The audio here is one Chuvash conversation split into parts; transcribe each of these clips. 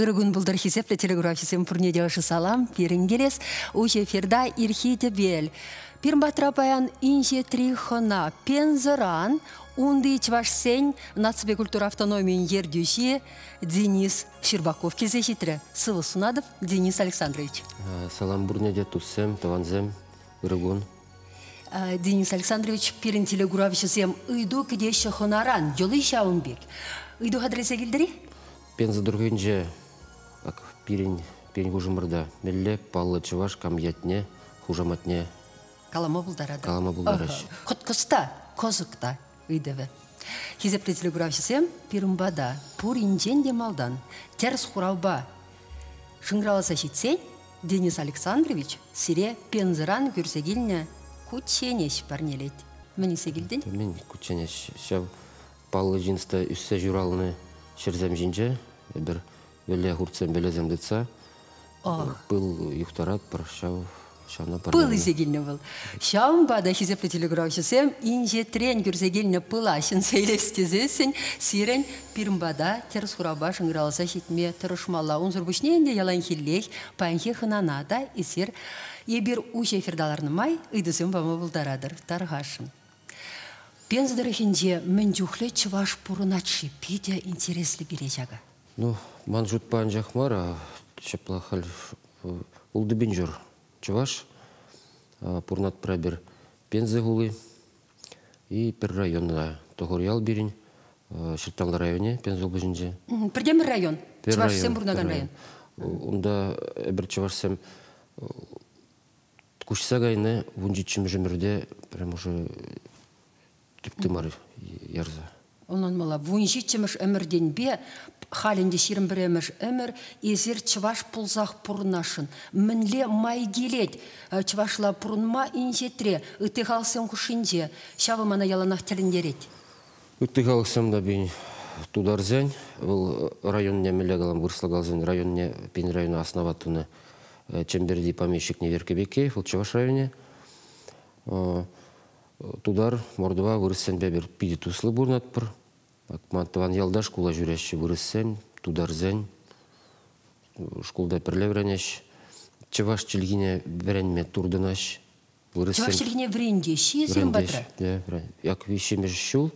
Ырӑ кун пултӑр хисеплӗ телеграфҫӑсем пурне те ӑшӑ салам пирӗн килес. Уҫӑ эфирта ирхи тӗпел. Пирматра паян инҫетри хӑна Пензӑран унти чӑвашсен наципе культура автономийӗн ертӳҫи Денис Щербаков килсе ҫитрӗ. Сывӑ сунатӑп, Денис Александрович. Салам пурне те туссем, тӑвансем, ырӑ кун. Денис Александрович, пирӗн телеграфҫӑсем ыйту кӗтеҫҫӗ хӑнаран. Йӑли ҫавӑн пек. Ыйту хатӗрлесе килтӗр-и? Пенса тӑрӑхӗнче пирӗн пирӗн хушӑмӑрта мелле паллӑ чӑваш кам ятне, хушаматне калама пултаратӑр. Калама пултараҫҫӗ. Кӑткӑс та, кӑсӑк та ыйтӑвӗ. Хисепре телекуравҫӑсем пирӗнпа та, пуринчен те малтан, тӗрӗс хуравпа шӑнкӑравласа ҫитсен, Денис Александрович сире Пензӑран кӳрсе килнӗ кучченеҫ парнелет. Мӗн илсе килтӗн? Мӗн кучченеҫ? Ҫав Паллӑ джинста ӳссе ҫуралнӑ ҫӗрсем ҫинче эпир вӗлле хуртсем, вӗлесем тытса пыл юхтаратпӑр ҫав ҫавна пыл илсе килнӗ вӑл. Ҫавӑнпа та хисеплӗ телекуравҫӑсем инҫетрен кӳрсе килнӗ пыла ҫӗнсе илес тесессӗн сирӗн пирӗн пата тӗрӗс хуравпа шӑнкӑравласа ҫитме тӑрӑшмалла. Унсӑр пуҫне ӗнтӗ яланхиллех паянхи хӑнана та эсир эпир уҫӑ эфирта ларнӑ май ыйтусем пама пултаратӑр. Тархасшӑн. Пенс тӑрӑхӗнче мӗн чухлӗ чӑваш пурӑнать-ши? Питӗ интереслӗ пире ҫакӑ. Ну, ман шутпа анчах мар, а ҫапла халь ултӑпинчӑр чӑваш пурӑнать пӗрпер Пенза хули и пӗр районта Тӑхор ял пирӗн Ҫырталла районӗ Пенза облаҫӗнче. Пӗртен пӗр район, чӑвашсем пурӑнакан район. Унта эпир чӑвашсем Куҫса кайнӑ вунҫиччӗмӗш ӗмӗрте прям ӑшӑ тӗп тымар ярса. Ӑнланмалла, вунҫиччӗмӗш ӗмӗртенпе халь ӗнтӗ ҫирӗм пӗрремӗш ӗмӗр эсир чӑваш пулсах пурӑнасшӑн. Мӗнле май килет э, чӑвашла пурӑнма инҫетре, ытти халӑхсем хушшинче? Ҫавӑ мана яланах тӗлӗнтерет. Ытти халӑхсем та пин тутарсен, вӑл районне мӗнле калам, вырӑсла каласан районне, пин района основать тунӑ Чӗмпӗрти помещикне Верке Бекеев, вӑл Чӑваш районӗ. Тутар, мордва, вырӑссемпе питӗ туслӑ пурӑнатпӑр. Ман тӑван ялта шкула ҫӳреҫҫӗ вырӑссем, тутарсен. Шкулта пӗрле вӗренеҫ. Чӑваш чӗлхине вӗренме туртӑнаҫ. Вырӑссем... Чӑваш чӗлхине вӗрентеҫҫӗ-и сирӗн патра? Як виҫҫӗмӗш ҫул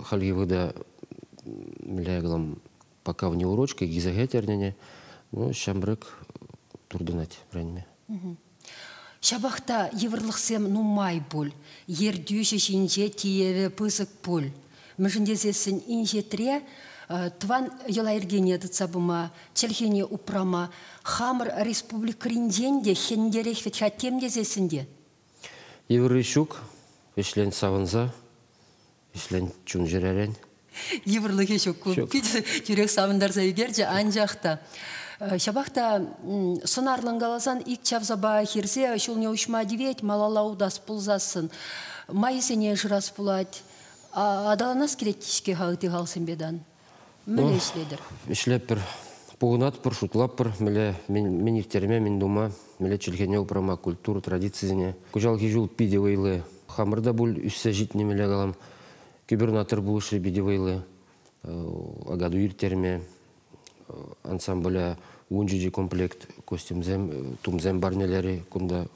хальхи вӑхӑта, мӗнле калам, пока вне урочка гиза хӗтернӗне ну, ҫамрӑк туртӑнать вӗренме. Ҫапах та йывӑрлӑхсем нумай пуль. Ертӳҫӗ ҫинче тиеве пысӑк пуль. Мӗншӗн тесессӗн инҫетре тӑван йӑла-йӗркене тытса пыма, чӗлхене упрама хамӑр республикӑринчен те хӗнтерех вӗт-ха тем тесессӗн те Йывӑрри ҫук. Ӗҫлен савӑнса, ӗҫлен чун-чӗререн. Йывӑрлӑхӗ ҫук ку. Питӗ тӳрех савӑнтарса ӳкерчӗ, анчах та Э, ҫапах та сӑнарлӑн каласан ик чавсапа хирсе ҫулне уҫма тивет, малалла утас пулсассӑн майӗсене шырас пулать. Аталанас килет-ҫке халти халсемпе тан. Мӗнле ӗҫлетӗр? Ӗҫлетпӗр. Пухӑнатпӑр, шутлатпӑр. Мӗнле мӗн ирттерме, мӗн тума, мӗнле чӗлхене упрама, культура традицисене. Кӑҫалхи ҫул питӗ вӑйлӑ. Хамӑр та пуль ӳссе ҫитнӗ мӗнле калам. Губернатор пулӑшни питӗ вӑйлӑ. Агаду ирттерме, ансамбля ун ҫути комплект костюмсем, тумсем парнелерӗ кунта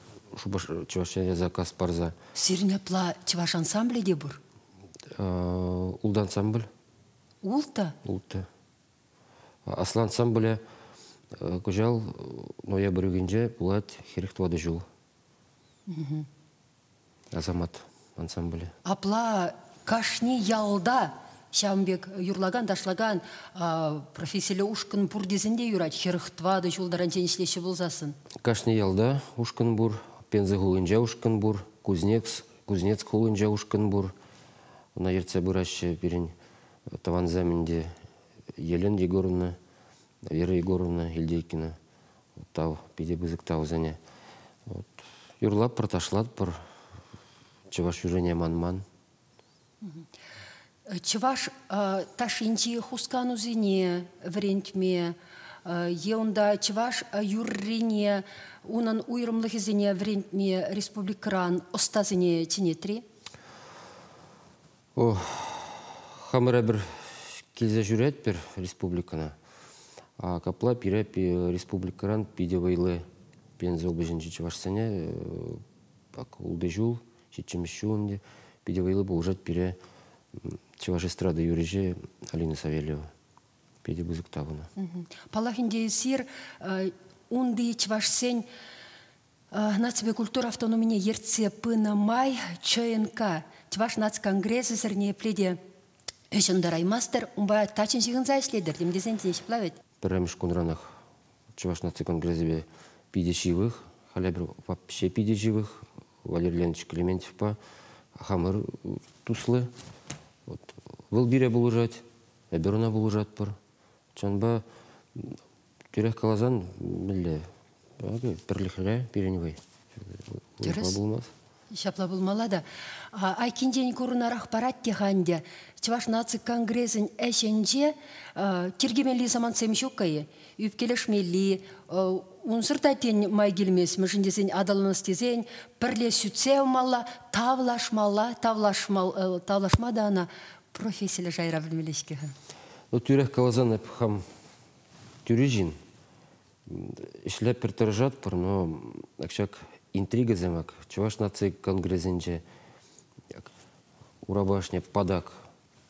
Чӑваш Ене заказ парса. Сирӗн апла чӑваш ансамблӗ те пур? Ултӑ ансамбль. Ултӑ? Ултӑ. Аслан ансамбле кӑҫал ноябрьгинче пулать хӗрӗх тӑватӑ ҫул. Асамат ансамбле. Апла кашни ялта ҫавӑн пек юрлакан, ташлакан профессилле ушкӑн пур тесен те юрать. Хӗрӗх тӑватӑ ҫул таранччен ӗҫлеҫҫӗ пулсассӑн. Кашни ялта ушкӑн пур. Пенза хулинче ушкӑн пур. Кузнец Кузнец хулинче ушкӑн пур. Ӑна ертсе пыраҫҫӗ пирӗн тӑвансем ӗнтӗ Елена Егоровна, Вера Егоровна Ильдейкина. Тав, питӗ пысӑк тавсене. Вот. Юрлатпӑр, ташлатпӑр. Чӑваш юррине манман. Чӑваш ташшинчи хусканусене вӗрентме е унта чӑваш юррине, унӑн уйрӑмлӑхӗсене вӗрентме республикӑран ӑстасене чӗнет-ри? Хамӑра пӗр килсе ҫӳретпӗр республикӑна. Капла пире республикӑран питӗ вӑйлӑ Пенза облаҫӗнчи чӑвашсене пак ултӑ ҫул Ҫиччӗмӗш ҫул ӗнтӗ питӗ вӑйлӑ пулӑшать пире чӑваш эстрада юрӑҫи Алина Савельева. Питӗ пысӑк тапӑна. Паллах ӗнтӗ эсир унти чӑвашсен наципе культура автономине ертсе пынӑ май ЧНК Чӑваш наци конгресӗсӗр ниепле те ӗҫ ӑнтараймастӑр. Унпа таччӑн ҫыхӑнса ӗҫлетӗр тем тесен те ҫапла вӗт. Пӗрремӗш кунранах Чӑваш наци конгресӗпе питӗ ҫывӑх. Халӗ вообще питӗ ҫывӑх. Валерий Леонидович Клементьевпа хамӑр туслӑ. Вот. Вӑл пире пулӑшать, эпир ӑна пулӑшатпӑр. Чӑнпа тӳрех каласан, мӗнле, пӗрлӗхре пирӗн вӑй. Тӗрӗс. Пулмасть. Ҫапла пулмалла та. Айккинчен курӑнарах парать те-ха ӗнтӗ. Чӑваш наци конгресӗн ӗҫӗнче тиркемелли самантсем ҫук-ха-и? Ӳпкелешмелли, унсӑр та тен май килмест, мӗншӗн тесен аталанас тесен пӗрле сӳтсе явмалла, тавлашмалла, тавлашма та ӑна профессиллӗ шайра пӗлмелле-ҫке-ха. Ну, тӳрех каласан, эп хам тӳри ҫын. ӗҫлеппӗр тӑрӑшатпӑр, но ак ҫак интригӑсем ак Чӑваш наци конгресӗнче ак урапа ӑшне патак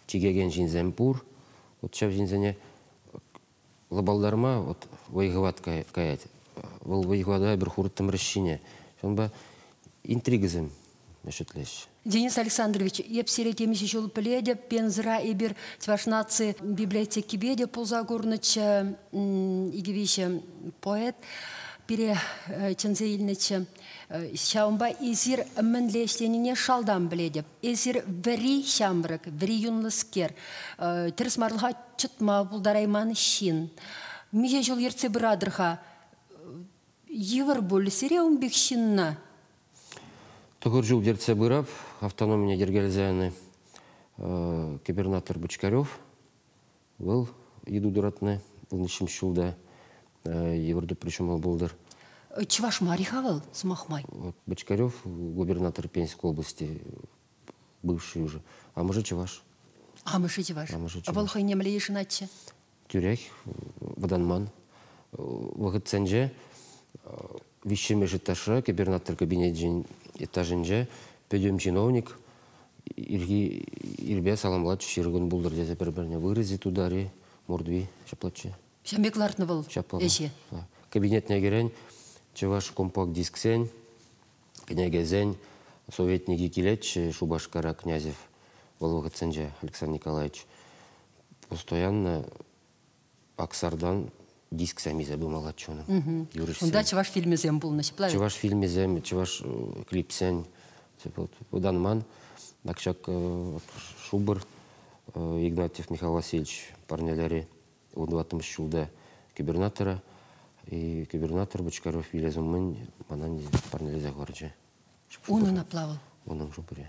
чикекен ҫынсем пур. Вот ҫав ҫынсене лӑпалдарма вот вӑй-хӑват каять. Вӑл вӑй-хӑвата эпир хурӑттӑмӑр ӗҫҫине. Ҫавӑнпа интригӑсем ӗҫӗтлеҫҫӗ. Денис Александрович, эп сире темиҫе ҫул пӗлетӗп. Пензӑра эпир Чӑваш наци библиотекипе те пулса курнӑччӗ. Икӗ виҫӗ поэт пире чӗнсе илнӗччӗ. Ҫавӑнпа эсир мӗнле ӗҫленине шалтан пӗлетӗп. Эсир вӗри ҫамрӑк, вӗри юнлӑскер, тӗрӗс марлӑха чӑтма пултарайман ҫын. Миҫе ҫул ертсе пыратӑр-ха Йывӑр пуль сире ун пек ҫынна. Тӑхӑр ҫул ертсе пырап автономине йӗркелесе губернатор Бочкарев. Вӑл йыту туратнӑ вуннӑҫмӗш ҫулта йывӑр тупри ҫумал пултӑр. Чӑваш мар-и-ха вӑл, сӑмах май? Вот Бочкарев губернатор Пензенской области, бывший уже. Амӑшӗ чӑваш. Амӑшӗ чӑваш. Амӑшӗ чӑваш. Вӑл хӑй нимле йышӑнатчӗ? тӳрех вӑтанман вӑхӑтсенче виҫҫӗмӗш этажра кӗпер-натӑр кабинечӗн этажӗнче пӗтӗм чиновник ирхи ирпе саламлать ҫырӑкӑн пултӑр тесе пӗр-пӗрне вырази тутари мордви ҫаплаччӗ. Ҫын пек лартнӑ вӑл ӗҫе. Кабинетне кӗрен чӑваш компакт-дисксен Кӗнекесен советникӗ килет-ши Шупашкара Князев вӑл вӑхӑтсенче, Александр Николаевич? Постоянно Аксардан диск сәмисе пымаллаччӗ унӑн. Юрӑҫсен. Унта чӑваш фильмӗсем пулнӑ, ҫӗплавӗ. Чӑваш фильмӗсем, чӑваш клипсен пытанман. Ак ҫак шупӑр Игнатьев Михаил Васильевич парнелери вунтӑваттӑмӗш ҫулта губернатора губернатор Бочкаров вилес умӗн мана парнелесе хӑварчӗ. Унӑн апла вӑл? Унӑн шупӑрӗ.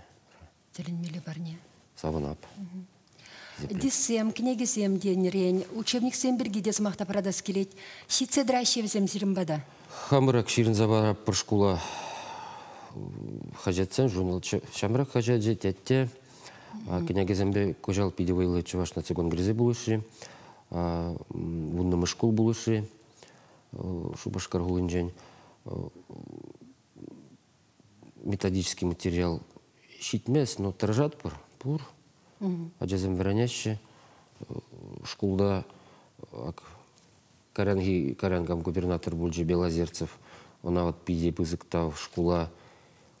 Тӗлӗнмелле парне. Савӑнап. Дисем, кӗнекесем тенӗрен, учебниксем пирки те сӑмах та паратас килет. Ҫитсе тӑраҫҫӗ вӗсем сирӗн пата. Хамрак ҫырӑнса параппӑр шкула хаҫатсен журнал. Ҫамрак хаҫачӗ, тетте. Кӗнекесемпе кӑҫал питӗ вӑйлӑ Чӑваш наци конгресӗ пулӑшрӗ. Вуннӑмӗш шкул пулӑшрӗ Шупашкар хулинчен. Методический материал ҫитмест, но тӑрӑшатпӑр, пур. Ачасем вӗренеҫҫӗ. Шкулта Каранхи Каранкам губернатор пулчӗ Белозерцев. Ӑна вот питӗ пысӑк тав. Шкула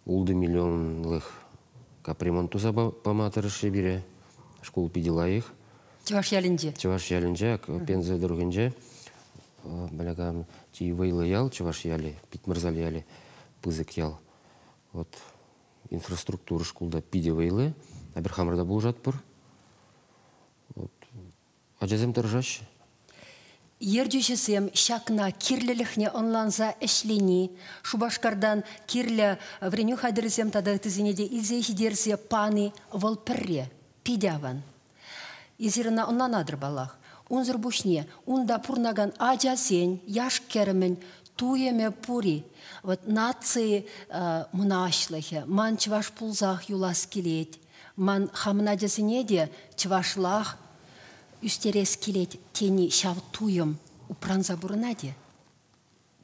ултӑ миллионлӑх капремонт туса пама тӑрӑшрӗ пире. Шкул питӗ лайӑх. Чӑваш ялӗнче? Чӑваш ялӗнче, Пенза тӑрӑхӗнче. Баляган чи вӑйлӑ ял, Чӑваш ялӗ, Питмӑрзал ялӗ, пысӑк ял. Вот инфраструктура шкулта питӗ вӑйлӑ. Эпир хамӑр та пулӑшатпӑр. Вот Ачасем тӑрӑшаҫҫӗ. Ертӳҫӗсем ҫакна кирлӗлӗхне ӑнланса ӗҫлени, Шупашкартан кирлӗ вӗренӳ хатӗрӗсем тата ыттисене те илсе ҫитерсе пани вӑл пӗрре, питӗ аван. Эсир ӑна ӑнланатӑр паллах. Унсӑр пуҫне унта пурӑнакан ачасен, яш-кӗрӗмӗн туйӑмӗ пур-и? Вот наци мӑнаҫлӑхӗ, ман чӑваш пулсах юлас килет. Ман хамӑн ачасене те чӑвашлах ӳстерес килет тени ҫав туйӑм упранса пурӑнать-и?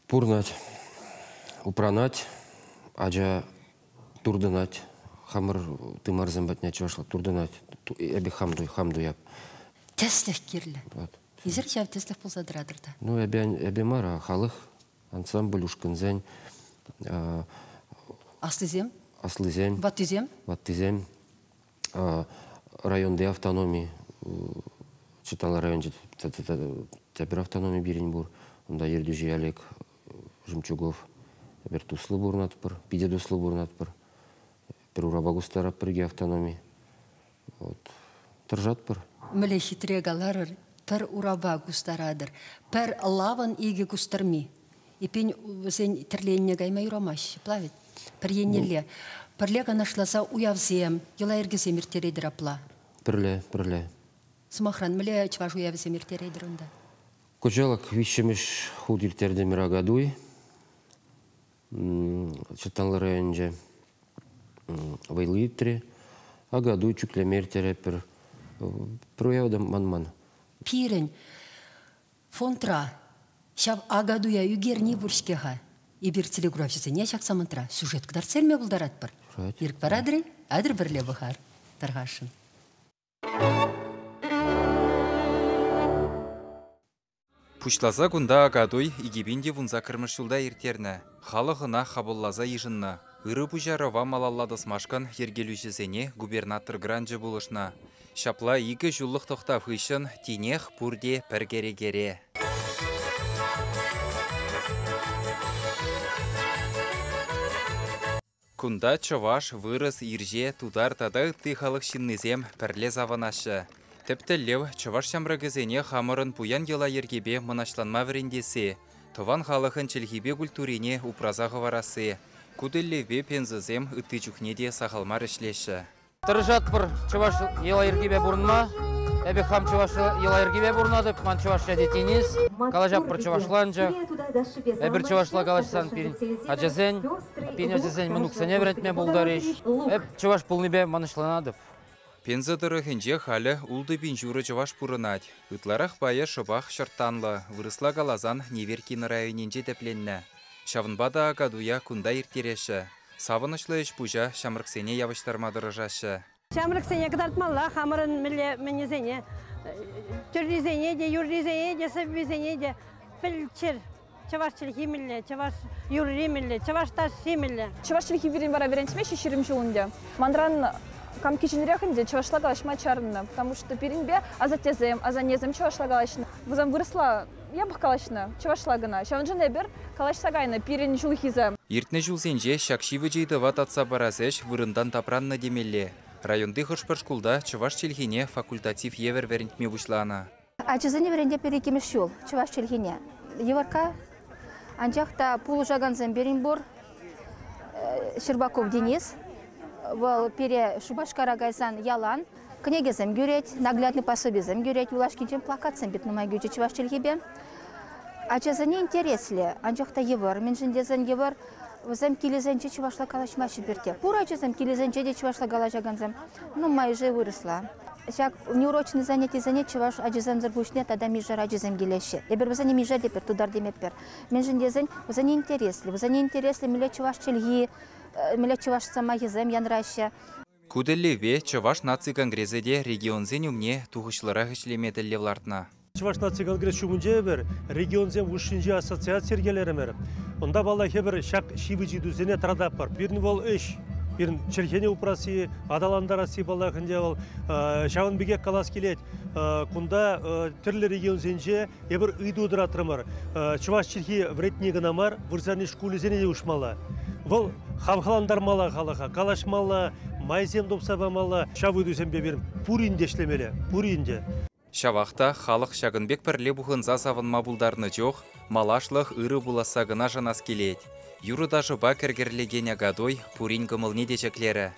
Пурӑнать. Упранать. Ача туртӑнать. Хамӑр тымарсем патне чӑвашла туртӑнать. Эпӗ хам, хам туяп. Тӗслӗх кирлӗ. Вот. Эсир ҫав тӗслӗх пулса тӑратӑр та. Ну, эпӗ, эпӗ мар, халӑх. ансамбль ушкӑнсен аслисем аслисен ваттисем ваттисем районти автономи Читала районче тепӗр автономи пирӗн пур. Унта ертӳҫи Олег Жемчугов. Эпир туслӑ пурӑнатпӑр, питӗ туслӑ пурӑнатпӑр. Пӗр урапа кустарап пирки автономи. Вот. Тӑрӑшатпӑр. Мӗле хитре каларӑр, пӗр урапа кустаратӑр, пӗр лавӑн икӗ кустӑрми. Эппин, вӗсен тӗрленне кайма юрамасть, плавить. Пӗр еннелле. Пӗрле канашласа уявсем, йӑла-йӗркесем ирттеретӗр апла? Пӗрле, пӗрле. Сӑмахран, мӗнле чӑваш уявӗсем ирттеретӗр унта? Кӑҫалак виҫҫӗмӗш хут ирттертӗмӗр Агадуй. Чӑтанлӑ районӗнче вӑйлӑ иртрӗ. Акатуй чӳклеме ирттеретпӗр. Прояв та манман. Пирӗн фондра ҫав Акатуя ӳкерни пур-ҫке-ха. Эпир телекуравҫӑсене ҫак самантра сюжет кӑтартса илме пултаратпӑр. Ирӗк паратӑр-и? Атӑр пӗрле пӑхар, тархасшӑн. Пуҫласа кунта Акатуй икӗ пин те вунсаккӑрмӗш ҫулта ирттернӗ. Халӑх ӑна хапӑлласа йышӑннӑ. Ырӑ пуҫарӑва малалла тӑсмашкӑн йӗркелӳҫӗсене губернатор гранчӗ пулӑшнӑ. Ҫапла икӗ ҫуллӑх тӑхтав хыҫҫӑн тинех пурте пӗр кӗрекере. Кунта чӑваш, вырӑс, ирҫе, тутар тата ытти халӑх ҫыннисем пӗрле савӑнаҫҫӗ. Тӗп тӗллев, чӑваш ҫамрӑкӗсене хамӑрӑн пуян йӑла-йӗркепе мӑнаҫланма вӗрентесси, тӑван халӑхӑн чӗлхипе культурине упраса хӑварасси. Ку тӗллевпе пенсӑсем ытти чухне те сахал мар ӗҫлеҫҫӗ. Тӑрӑшатпӑр чӑваш йӑла-йӗркипе пурӑнма. Эпӗ хам чӑваш йӑла-йӗркипе пурӑнатӑп, ман чӑвашла тет Енис. Калаҫатпӑр чӑвашланчӑк. Эпир чӑвашла калаҫсан пирӗн ачасен, пирӗн ачасен мӑнуксене вӗрентме пултарӗҫ. Эп чӑваш пулнипе мӑнаҫланатӑп. Пенза тӑрӑхӗнче халӗ ултӑ пин ҫурӑ чӑваш пурӑнать. Ытларах пайӗ шӑпах ҫӑрттанлӑ, вырӑсла каласан Неверкино районӗнче тӗпленнӗ. Ҫавӑнпа та Акатуя кунта ирттереҫҫӗ. Савӑнӑҫлӑ ӗҫ-пуҫа ҫамрӑксене явӑҫтарма тӑрӑшаҫҫӗ. Ҫамрӑксене кӑтартмалла хамӑрӑн мӗнле мӗнесене, тӗррисене те, юррисене те, сӑввисене те. Пӗл чӗр, чӑваш чӗлхи мӗнле, чӑваш юрри мӗнле, чӑваш ташши мӗнле. Чӑваш чӗлхи пирӗн вара вӗрентме ҫеҫ ҫирӗм ҫул ӗнтӗ. Манран кам киченрех ӗнтӗ чӑвашла калаҫма чарӑннӑ, потому что пирӗнпе асаттесем, асаннесем чӑвашла калаҫнӑ. Вырӑсла Япӑх калаҫнӑ, чӑвашла кӑна. Ҫавӑншӑн эпир калаҫса кайнӑ пирӗн ҫулхисем. Иртнӗ ҫулсенче ҫак ҫивӗч ыйтӑва татса парас ӗҫ вырӑнтан тапраннӑ темелле. Районти хӑш-пӗр шкулта чӑваш чӗлхине факультатив евӗр вӗрентме пуҫланӑ. Ачасене вӗрентеппир иккӗмӗш ҫул чӑваш чӗлхине. Йывӑркка, анчах та пулӑшакансем пирӗн пур. Щербаков Денис, вӑл пире Шупашкара кайсан ялан кӗнекесем кӳрет, наглядный пособисем кӳрет, юлашкинчен плакатсем пит нумай кӳчӗ чӑваш чӗлхипе. Ачасене интереслӗ, анчах та йывӑр. Мӗншӗн тесен йывӑр, вӗсем килӗсенче чӑвашла калаҫмаҫҫӗ пирте. Пур ачасем килӗсенче те чӑвашла калаҫакансем нумайӑшӗ вырӑсла. Ҫак неурочные занятисене чӑваш ачисемсӗр пуҫне тата мишер ачисем килеҫҫӗ. Эпир вӗсене миша тепер, тутар темеппер. Мӗншӗн тесен вӗсене интереслӗ, вӗсене интереслӗ мӗнле чӑваш чӗлхи, мӗнле чӑваш сӑмахӗсем янраҫҫӗ. Ку тӗллевпе Чӑваш наци конгресӗ те регионсен умне тухӑҫлӑрах ӗҫлеме тӗллев лартнӑ. Чӑваш наци конгресс ҫумӗнче эпир регионсем хушшинчи ассоциаци йӗркелерӗмӗр. Унта паллах эпир ҫак ҫивӗч ыйтусене тӑрататпӑр. Пирӗн вӑл ӗҫ. Пирӗн чӗлхене упрасси, аталантарасси паллах ӗнтӗ вӑл. Ҫавӑн пекех калас килет, кунта тӗрлӗ регионсенче Эпир ыйту тӑратрӑмӑр. Чӑваш чӗлхи вӗретни кӑна мар, вырсарни шкулӗсене те уҫмалла. Вӑл хавхалантармалла халӑха, калаҫмалла, майсем тупса памалла. Ҫав ыйтусемпе пирӗн пурин те ӗҫлемелле, пурин те. Ҫавах та халӑх ҫакӑн пек пӗрле пухӑнса савӑнма пултарнӑ чух малашлӑх ырӑ пуласса кӑна шанас килет. Юрӑ-ташӑпа кӗркӗрлекен Акатуй пурин кӑмӑлне те ҫӗклерӗ.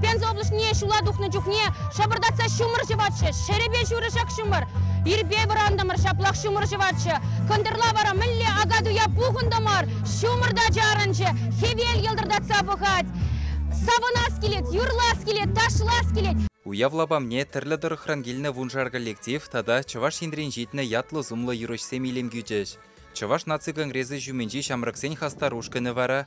Пенза облаҫне ҫула тухнӑ чухне шӑпӑртатса ҫумӑр ҫӑватчӗ, ҫӗрӗпе ҫурӑ ҫак ҫумӑр. Ирпе вӑрантӑмӑр, ҫаплах ҫумӑр ҫӑватчӗ. Кӑнтӑрла вара мӗнле ака-туя пухӑнтӑмӑр, ҫумӑр та чарӑнчӗ, хӗвел йӑлтӑртатса пӑхать. Савӑнас килет, юрлас килет, ташлас килет. Уяв лапамне тӗрлӗ тӑрӑхран килнӗ вуншар коллектив тата Чӑваш Енрен ҫитнӗ ятлӑ-сумлӑ юрӑҫсем илем кӳчӗҫ. Чӑваш наци конгресӗ ҫумӗнчи ҫамрӑксен хастар ушкӑнӗ вара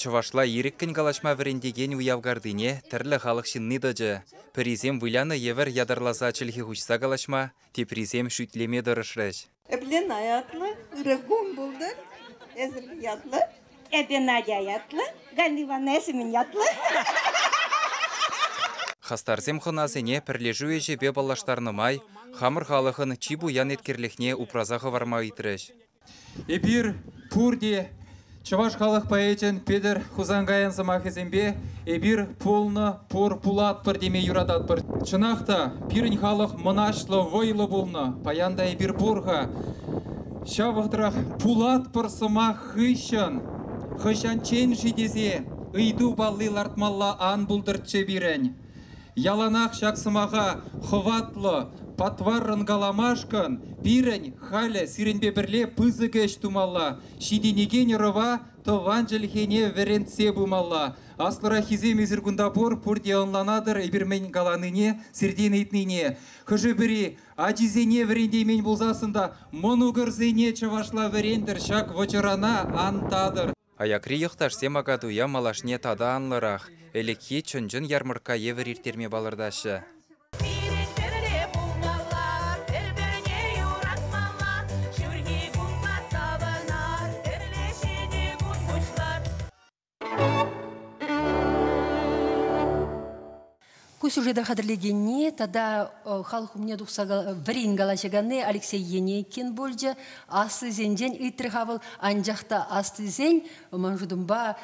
Чӑвашла ирӗккӗн калаҫма вӗрентекен уяв картине тӗрлӗ халӑх ҫынни тӑчӗ. Пӗрисем вылянӑ евӗр ятарласа чӗлхе хуҫса калаҫма, теприсем шӳтлеме тӑрӑшрӗҫ. Эпле ятлӑ, ырӑ кун пултӑр эсӗр ятлӑ. Эпӗ Надя ятлӑ, Галь Иван эсӗмӗн ятлӑ. Хастарсем хӑнасене пӗрлешӳ ӗҫӗпе паллаштарнӑ май хамӑр халӑхӑн чи пуян еткерлӗхне упраса хӑварма ыйтрӗҫ. Эпир пурте чӑваш халӑх поэчӗн Петӗр Хусанкайӑн сӑмахӗсемпе эпир пулнӑ, пур пулатпӑр теме юрататпӑр. Чӑнах та, пирӗн халӑх мӑнаҫлӑ, вӑйлӑ пулнӑ. Паян та эпир пур-ха. Ҫав вӑхӑтрах пулатпӑр сӑмах хыҫҫӑн хӑҫанччен-ши тесе ыйту палли лартмалла ан пултӑрччӗ пирӗн. Яланах ҫак сӑмаха хӑватлӑ патваррӑн каламашкӑн пирӗн халӗ сирӗнпе пӗрле пысӑк ӗҫ тумалла, ҫитӗнекен ӑрӑва тӑван чӗлхене вӗрентсе пымалла. Аслӑраххисем эсир кунта пур, пурте ӑнланатӑр эпир мӗн каланине, сиртен ыйтнине. Хӑшӗ-пӗри ачисене вӗрентеймен пулсассӑн та мӑнукӑрсене чӑвашла вӗрентӗр, ҫак вӑчӑрана антатӑр. Аякри йӑхташсем Акатуя малашне тата анлӑрах, ӗлӗкхи чӑн-чӑн ярмӑркка евӗр ирттерме палӑртаҫҫӗ. Пирӗн хӗвре пулмалла, пӗр-пӗрне юратмалла, ҫурхи кунпа савӑнар, хӗрлӗ ҫитӗ кун пуҫлар. Ку сюжета хатӗрлекенни тата халӑх умне тухса вӗрен калаҫаканни Алексей Енейкин пулчӗ. Аслисенчен ыйтрӗ-ха вӑл, анчах та аслисен, ман шутӑмпа,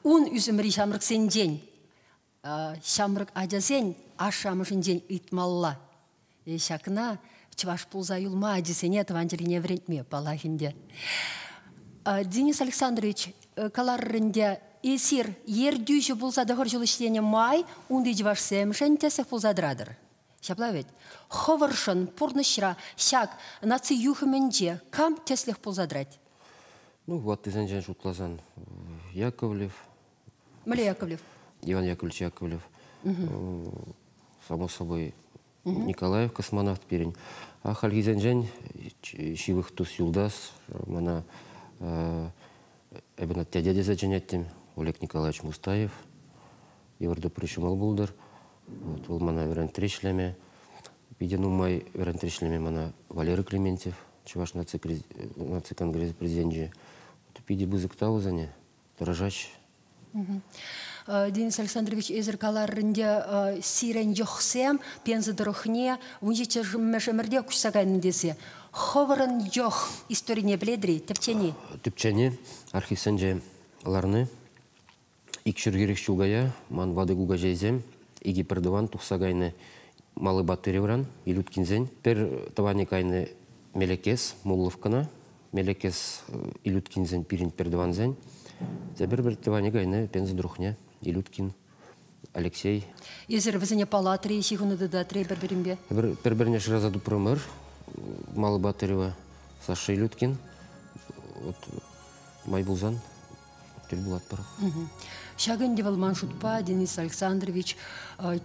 ун ӳсӗмри ҫамрӑксенчен, ҫамрӑк ачасен ашшӗ-амӑшӗнчен ыйтмалла. ҫакна чӑваш пулса юлма ачисене тӑван чӗрине вӗрентме паллах ӗнтӗ. Денис Александрович каларӑр ӗнтӗ эсир ертӳҫӗ пулса тӑхӑр ҫул ӗҫленӗ май унти чӑвашсемшӗн тӗслӗх пулса тӑратӑр. Ҫапла вӗт. Хӑвӑршӑн пурнӑҫра ҫак наци юхӑмӗнче кам тӗслӗх пулса тӑрать? Ну, ваттисенчен шутласан, Яковлев, Міле Яковлев. Иван Яковлевич Яковлев. Само собой. Николаев космонавт пирӗн. А хальхисенчен ҫывӑх тус юлташ мана эбен дядя тесе чӗнеттім Олег Николаевич Мустаев. Евродопри ҫумал булдыр. Вот, вӑл мана вӗрентри ӗҫлеме, питӗ нумай вӗрентри ӗҫлеме мана Валерий Клементьев, Чӑваш наци, наци конгресс президенчӗ, питӗ пысӑк та усане. тӑрӑшаҫҫӗ. Денис Александрович, эсир каларринче сирӗн йӑхсем Пенза тӑрӑхне ун ҫиччӗмӗшӗмӗрте куҫса кайнӑ тесе хӑвӑрӑн йӑх историне пӗлетӗр-и? Тӗпчени? Тӗпчени архивсенче ларни. Ик ҫурхирех ҫул кая ман ватӑ кукаҫейсем икӗ пӗртӑван тухса кайнӑ Малы Батыревран, Илюткинсен. Пӗр тӑванӗ кайнӑ Мелекес, Мулловкӑна, Мелекес Илюткинсен пирӗн пертӑвансен тепӗр пӗр тӑванӗ кайнӑ пенсин друхне Илюткин, Алексей. Эсир вӗсене палатри ҫыхӑну тытатрӗ пӗр-пӗринпе? Пӗр-пӗрне шыраса тупрӑмӑр. Малый Батырева, Саша Илюткин. Вот май пулсан тӗл пулатпӑр. Ҫак ӗнтӗ вӑл ман шутпа, Денис Александрович,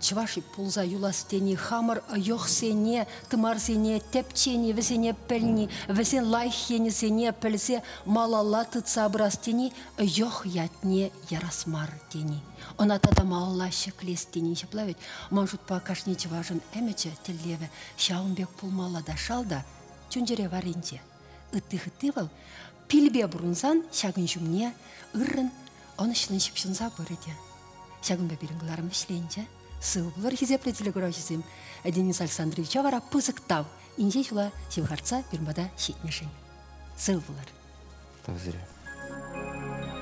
чӑваш пулса юлас тени хамӑр йӑхсене, тымарсене, тӗпчени, вӗсене пӗлни, вӗсен лайӑх енӗсене пӗлсе малалла тытса пырас тени йӑх ятне ярас мар тени. Ӑна тата малалла ҫӗклес тени ҫапла вӗт. Ман шутпа кашни чӑвашӑн ӗмӗчӗ, тӗллевӗ ҫавӑн пек пулмалла та шал та чун-чӗре варринче. Ытти-хытти вӑл Пилпе пурӑнсан ҫакӑн ҫумне ыррӑн ӑнӑҫлӑн ҫыпҫӑнса пырӗ те. Ҫакӑнпа пирӗн кӑларӑм вӗҫленчӗ. Сывпуллӑр хисеплӗ телекуравҫӑсем, Денис Александровича вара пысӑк тав инҫе ҫула ҫывхартса пирӗн пата ҫитнӗшӗн. Сыв пулӑр. Тав сире.